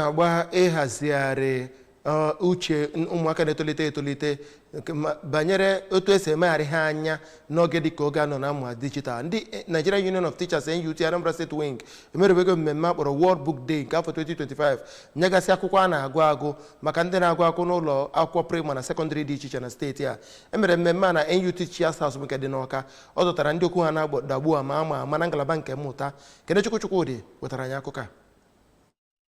na-agba ịhazigharị ọ, uche n- ụmụaka na-etolite etolite nke ma- banyere otu esi emegharị ha anya n'oge dịka oge a nọ na mmụta dijital ndị eh, Nigeria Union of Teachers NUT Anambra State Wing emerewego mmemme a kpọrọ World Book Day nke afọ 2025 nyegasị akwụkwọ a na-agụ agụ maka ndị na-agụ akwụkwọ n'ụlọ akwụkwọ praịmarị na sekọndịrị dị iche iche na steeti a emere mmemme a na NUT Teachers House nke dị n'Ọka ọ dọtara ndị okwu ha na-adagbu ama ama ama na ngalaba nke mmụta Kenechukwu Chukwudị wetara anyị akụkọ a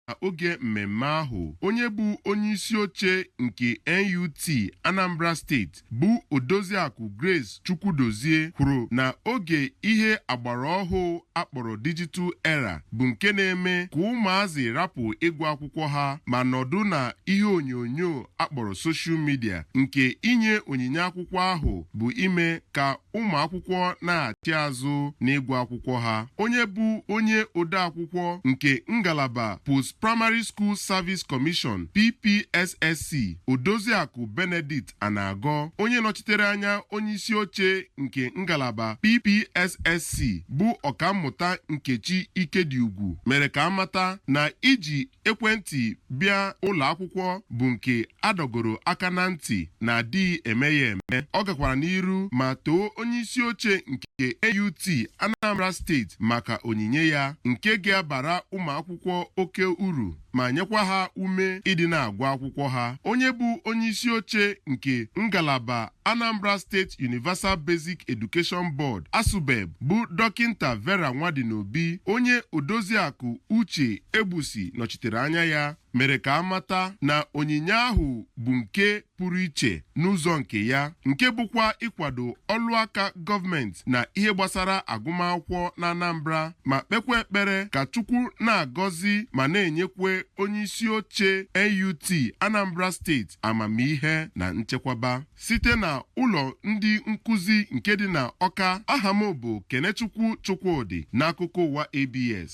na oge mmemme ahụ onye bụ onye isi oche nke NUT Anambra steeti bụ Odoziakụ Grace Chukwudozie kwuru na oge ihe agbara ọhụụ akpọrọ digital era bụ nke na-eme ka ụmụazị rapụ ịgụ akwụkwọ ha ma nọdụ na ihe onyonyo akpọrọ soshal midia nke inye onyinye akwụkwọ ahụ bụ ime ka ụmụ akwụkwọ nachi azụ n'ịgụ akwụkwọ ha onye bụ onye odeakwụkwọ nke ngalaba Post Primary School Service Commission PPSSC Odoziakụ Benedicta Anagọ onye nọchitere anya onye isi oche nke ngalaba PPSSC bụ ọkammụta Nkechi Ikediugwu mere ka amata na iji ekwentị bịa ụlọ akwụkwọ bụ nke adọgoro aka na ntị na adịghị eme ya eme ọ gakwara n'iru ma too onye isi oche nke NUT Anambra steeti maka onyinye ya nke ga-abara ụmụ akwụkwọ oke uru ma nyekwa ha ume ịdị na-agụ akwụkwọ ha onye bụ onye isi oche nke ngalaba Anambra State Universal Basic Education Board Asubeb bụ Dọkịnta Vera Nwadinobi onye odoziakụ Uche Egbusi nọchitere anya ya mere ka a mata na onyinye ahụ bụ nke pụrụ iche n'ụzọ nke ya nke bụkwa ịkwado ọlụ aka gọọmenti na ihe gbasara agụmakwụkwọ na Anambra ma kpekwa ekpere ka Chukwu na-agọzi ma na-enyekwe onye isi oche NUT Anambra steeti amamihe na nchekwaba site na ụlọ ndị nkụzi nke dị na Ọka aha m bụ Kenechukwu Chukwudị n'akụkọ ụwa ABS